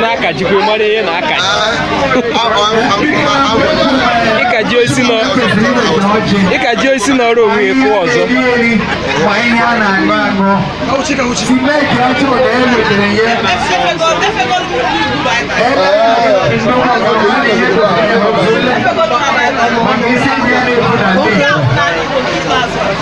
na-akajikwa mara ihe na-akaji ịkaji osi na ịkaji osi na ọrụ onwe ekwu ọzọ Thank you.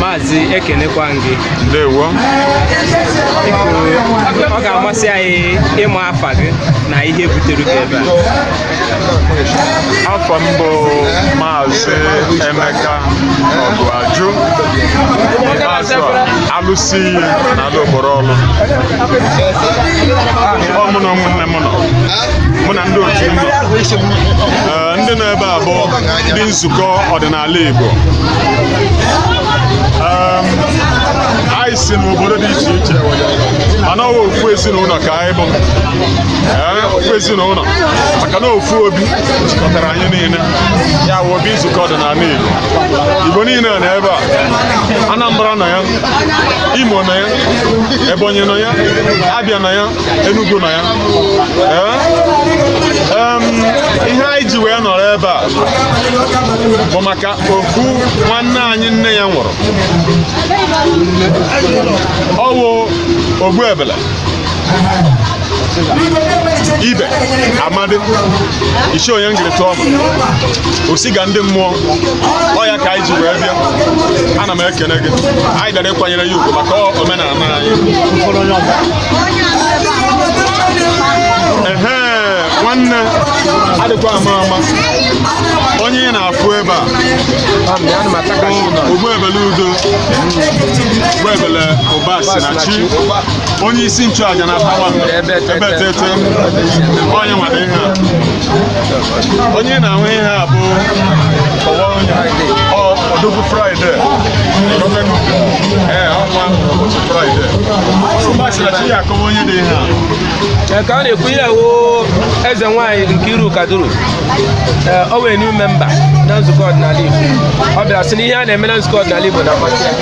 maazị ekenekwa m gị ndewo ọ ga-amasị anyị ịma afa gị na ihe butere gị ebe a afa m bụ maazị Emeka Ọgụajụ ikpeazụ a alụsị iyi n'ala Okporo Ọlụ ọ mụ na ụmụnne m nọ mụ na ndị otu m nọ Ee, ndị nọ ebe a bụ ndị nzukọ ọdịnala Igbo Em, anyị si n'obodo dị iche iche mana ọ bụ ofu ezinụlọ ka anyị bụ Ee, ofu ezinụlọ maka na ofu obi jikọtara anyị niile ya wụ obi nzukọ ọdịnala Igbo Igbo niile nọ ebe a Anambra nọ ya Imo nọ ya Ebonyi nọ ya Abia nọ ya Enugu nọ ya ihe anyị ji wee nọrọ ebe a bụ maka ofu nwanne anyị nne ya nwụrụ ọ wụ Ogbuebele Ibe Amadị isi onye ngịrịta ọma o si ga ndị mmụọ ọ ya ka anyị ji wee bịa ana m ekene gị anyị bịara ịkwanyere ya ugwu maka omenala anyị ehe nwanne adịkwa ama ama onye ị na-afụ ebe a Ogbuebele udo Ogbuebele ụba si na chi onye isi nchụaja na pawa ebe tete onye nwere ihe a onye na-ahụ ihe a bụ ọdụbụ fraịde ee ọnwa ụbọchị fraịde ụbọchị na chi ya akọwa onye dị ihe a ka a na-ekwu ihe wụ eze nwanyị Nkiru Kaduru ọ wụ new member na nzukọ ọdịnala Igbo ọ bịara sị na ihe a na-eme na nzukọ ọdịnala Igbo na-amasị ya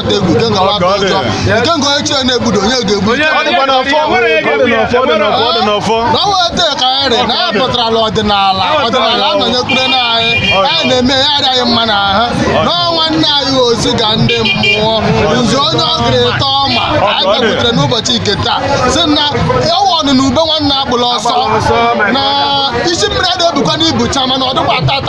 na-atụ egwu nke ngawa atụ ụjọ nke nga onye chie na-egbudo onye ga-egbu na o weta ka anyị rie na anyị pụtarala ọdịnala ọdịnala anọnyekwure na anyị anyị na-eme ya arị anyị mma na ahụ na nwanna anyị osiga ndị mmụọ nzu onye ọ gịrị ịtọ ọma anyị bịakwutere n'ụbọchị nke taa sị na ọ wụ ọnụrụ ube nwanne agbala ọsọ na isi mmiri adịghị ebukwa n'ibu cha mana ọ dịkwa tata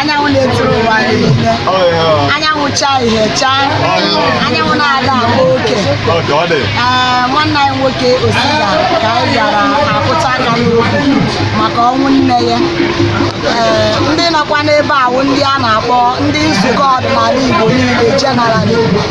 anyanwụ na-ezuru ụwa niile anyanwụ chaa ihe chaa anyanwụ na-ada agba oke ee nwanne anyị nwoke osiga ka anyị bịara akụta aka n'okwu maka ọnwụ nne ya ee ndị nọkwa n'ebe a wụ ndị a na-akpọ ndị nzukọ ọdịnala igbo niile jenerali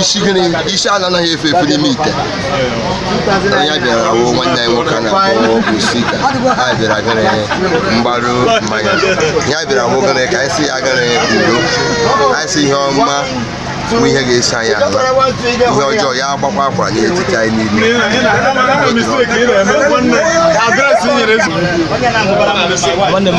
isi gịnị isi a na-anaghị efe efe n'ime ite ya bịara wụ nwanne anyị nwoke a na-akpọ osika anyị bịara gịnị mgbaru mama ya bịara wụ gịnị ka anyị sị ya gịnị ndo anyị sị ihe ọma bụ ihe ga-esi anyị ala ihe ọjọọ ya agbakwa akwara n'etiti anyị niile nwanne m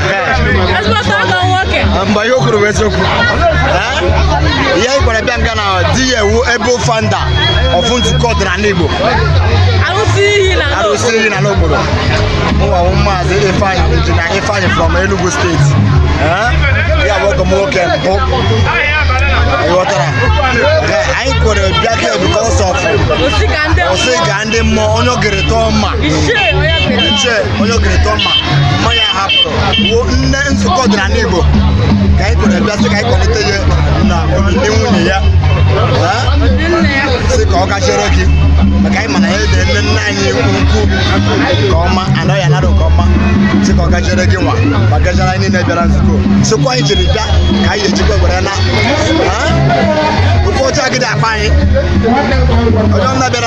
mgbe ihe okoro eziokwu ihe anyị gbara bịa nga na di ya ewu ebe founder of nzukọ ọdịnala Igbo arụsị iyi na n'obodo mụnwa wụ maazị Ifeanyi injinia Ifeanyi from Enugu state ya bụ ọgọ m nwoke mbụ ghọtara anyị kwere bịa bịa because of ndị mmụọ onye ogere tọọ mma ichie onye ogere tọọ mma mmanya hapụrụ wuo nne nzukọ ọdịnala igbo ka anyị kwere bịa sị ka anyị kwalite ya na ndị nwunye ya sị ka ọ gachiere gị maka anyị mana ya ede nne nna anyị ukwu nke ọma anọ ya anara nke ọma sị ka ọ gachiere gị nwa ma gachiere anyị niile bịara nzukọ sị ụkwụ anyị jiri bịa ka anyị ejikwa were naa ofe ọcha gị dị akpa anyị onye ọbụla bịara